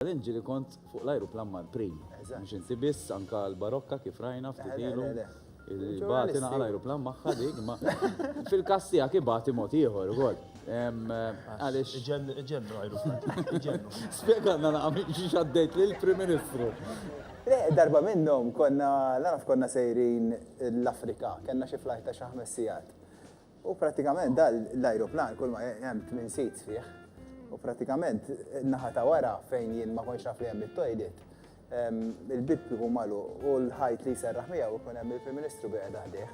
Jien ġieli kont fuq l-ajruplan mal-Prim. Mhux inti biss, anke l-Barokka kif rajna ftit ilu. Bagħat ingħaqad l-ajruplan magħha dik, imma fil-każ tiegħek ibati mod ieħor ukoll. Għaliex. Iġennu l-ajruplan. Iġennu. Spjegalna naqra minn xiex għaddejt lill-Prim Ministru. Le, darba minnhom konna, naf konna sejrin l-Afrika, kellna xi flajt ta' xi ħames sigħat. U pratikament da l-ajruplan kull ma hemm tmien seats fih. U pratikament naħa ta' wara fejn jien ma konx naf li hemm it-toilet, il-bib ikun malu u l-ħajt li jserraħ miegħu jkun hemm il-Prim Ministru biegħed ħdejh.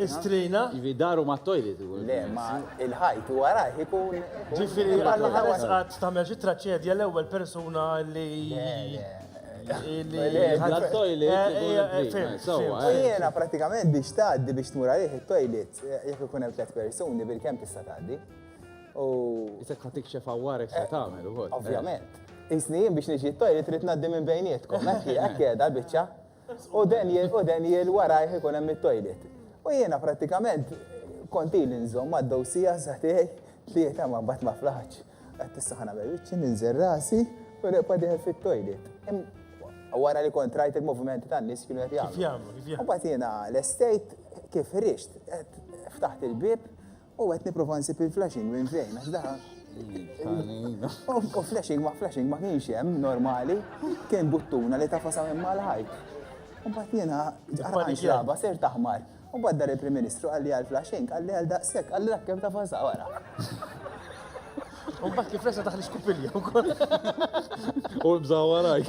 Istrina? Jivi daru ma' toilet. Le, ma' il-ħajt u wara jkun. Ġifiri, għalla ħares għad tamel xi traċedja l-ewwel persuna li. Bla toilet. Jiena pratikament biex tgħaddi biex tmur għalih it-toilet jekk ikun hemm tliet persuni bil-kemm tista' tgħaddi. U. Isek ħatik xef għawarek se tagħmel ukoll. Ovvjament. Isni jien biex niġi t-toilet trid ngħaddi minn bejnietkom, hekk hekk qiegħda l-biċċa. U den jil warajh ikun hemm it-toilet. U jiena pratikament kont ili nżomm għad-dowsija sa tiegħi tlieta ma mbagħad ma flaħtx. Għat issa ħana bejwiċċi ninżel rasi u neqpa diħel fit-toilet. Wara li kont rajt il-movimenti tan nies kienu qed jagħmlu. U bagħad jiena l-estate kif rixt ftaħt il-bib u qed nipprova nsib il-flashing minn fejn għax daħal. U flashing ma flashing ma kienx hemm normali, kien buttuna li tafa sa minn mal-ħajt. U bagħad jiena ġarħan xraba ser taħmar. U mbagħad dar il-Prim Ministru qalli għal Flash Inc. Qalli għal daqshekk, qalli dak kemm tafasha wara. U mbagħad kif resa daħli skupilja wkoll. U bża warajk.